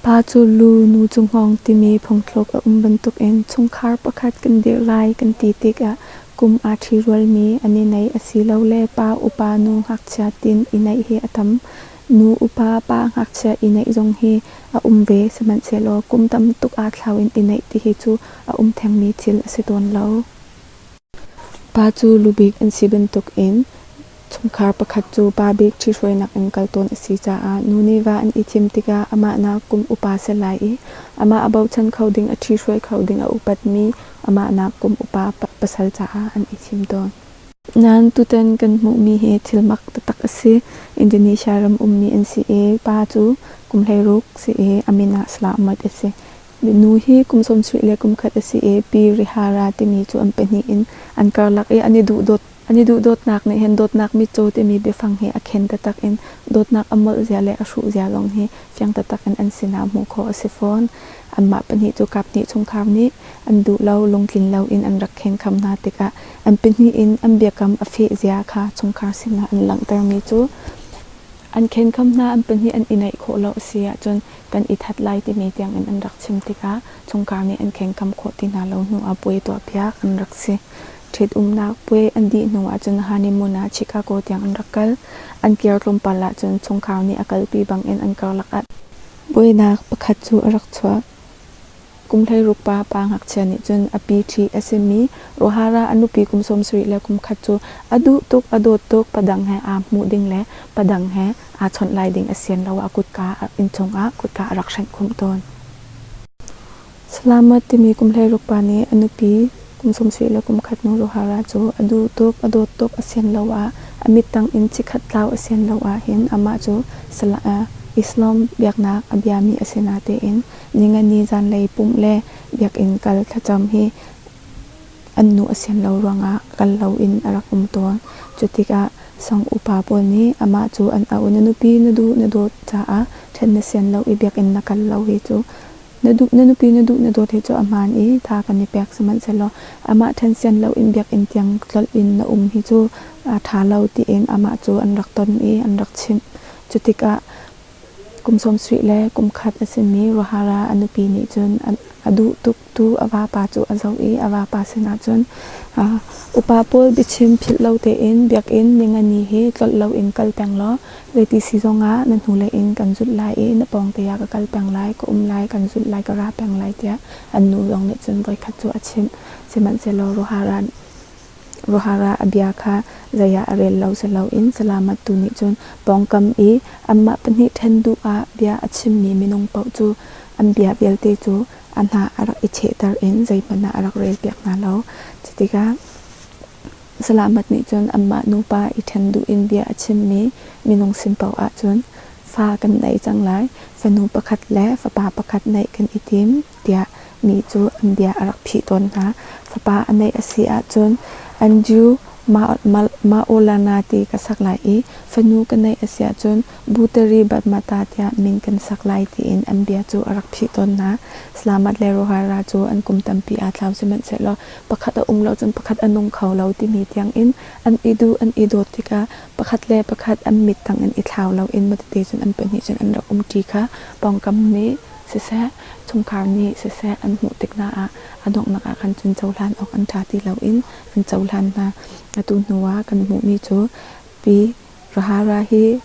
Pa cu lu nu cu hngawng timi phungthluk a um bantukin chungkhar pakhat kan dirh lai kan ti tikah kum aa ṭhi rualmi an i neih asilole pa upa nu ngakchia tin i neih hi a tam. Nu upa pa ngakchia i neih zong hi a um ve sihmanhsehlaw kum tam tuk aa thlau in i neih ti hi cu a um thengmi thil a si tawn lo. Pa cu lu bik an si bantukin chungkhar pakhat cu pa bik ṭhithruainak in kal tawn a si caah nu nih va an i thim tikah amah nak kum upa set lai i amah a bochan kho ding a ṭhithruai kho ding a upatmi amah nak kum upa pasal caah an i thim tawn. Nan tutan kan hmuhmi hi thilmak taktak a si. Indonesia ram ummi an si i pa cu kum hleiruk si i a min ah salah muat a si. Minu hi kum sawmsarih le kumkhat a si i Pi Rihara timi cu an pahnih in an karlak i an i duhdawt. An i duhdawtnak nih hin dawtnak mitcaw timi biafang hi a khen taktak in dawtnak a molh zia le a hruh zia lawng hi fiang taktak in an sinah hmuh khawh a si fawn. Anmah pahnih cu kaphnih chungkhar nih an duh lo lungtlin loin an rak khenkham hna tikah an pahnih in an biakam a feh zia kha chungkhar sinah an langhtermi cu An khenkham hna an pahnih an i naih khawh lo a si ahcun kan i that lai timi tiangin an rak chim tikah chungkhar nih an khenkham khawh ti hna lo hnuah puai tuahpiak an rak si. Ṭhitumnak puai an dih hnu ahcun Honeymoon ah Chicago tiang an rak kal. An kir tlawmpal ahcun chungkhar nih a kalpi bangin an karlak ah. Buainak pakhat cu a rak chuak. Kum hleiruk pa pa ngakchia nih cun a pi ṭhi a simi Rohara a nupi kum sawmsarih le kum khat cu a duh tuk, a dawt tuk, padang he aa hmuh ding le padang he aa chawnh lai ding a sian lo ah kutka inn chungah kutka a rak hrenh khumh tawn. Salamat timi kum hleiruk pa nih a nupi Kum sawmsarih le kum khat hnu Rohara cu a duh tuk, a dawt tuk a sian lo ah, a mittang in chikkhat tlau a sian lo ahhin amah cu Islam biaknak a biami a si natein Ningani zanlei pumh le biakinn kal thlacam hi an nu a sian lo ruangah kal loin a rak um tawn. Cutikah Song upa pawl nih amah cu an auh i, na nupi na duh na dawt caah ṭhen na sian lo i biakinn na kal lo hi cu Na duh na nupi na duh na dawt hi cu a hmaan i tha kan i pek sihmanhsehlaw amah ṭhensian loin biakinn tiang tlolh in na um hi cu aa ṭha lo tiin amah cu an rak ton i an rak chimh. Cu tikah kum sawmsarih le kum khat a simi Rohara a nupi nih cun a duh tuktu a vapa cu a zoh i a vapa sinah cun upa pawl biachim philh lo tein biakinn ningani hi tlolh loin kal peng law Zei ti si zongah na hnulei in kan zulh lai i na pawngte ah ka kal peng lai, ka um lai, kan zulh lai, ka ra peng lai tiah an nu zong nih cun voikhat cu a chimh. Sihmanhsehlaw Rohara Rohara ah a bia kha zei ah a rel lo si loin salamattu nih cun pawngkam i anmah pahnih ṭhen duh ah bia a chimmi minung paoh cu an bia vialte cu a hna a rak i chehter in zeihmanh ah a rak relpiak hna lo. Cutikah Salamat nih cun anmah nupa i ṭhen duh in bia a chimmi minung sin paoh ah cun fa kan nei cang lai, fanu pakhat le fapa pakhat neih kan i tim tiah mi cu an bia a rak phih tawn hna. Fapa a neih a si ahcun Andrew Maolana ti ka sak lai i fanu ka neih a si ahcun Buteri Batmata tiah min kan sak lai tiin an bia cu a rak thih tawnnak Slamat le Rohara cu an kum tampi aa tlau sihmanhsehlaw pakhat a um lo cun pakhat a nung kho lo timi tiangin an i duh an i dawt tikah pakhat le pakhat an mit tang in i thlau loin mawtete cun an pahnih cun an rak um ṭi kha pawngkam nih siseh chungkhar nih siseh an hmuh tik hna ah a donghnak ah khan cun cohlan awk an ṭha ti loin an cohlan hna atu hnu ah kan hmuhmi cu Pi Rahara hi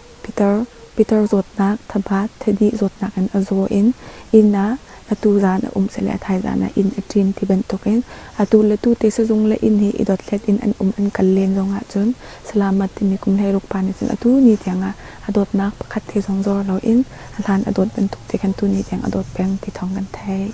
Peter zawtnak, thabaa, thadih zawtnak in a zaw in inn ah atu zaan a um seh le a thaizaan ah inn a ṭin ti bantukin atu le tu te sizung le inn hi i dothlet in an um an kal len zong ahcun Salamat timi kum hleiruk pa nih cun atu ni tiangah a dawtnak pakhat te zong zor loin a hlan a dawt bantuk te khan tu ni tiang a dawt peng ti thawng kan theih.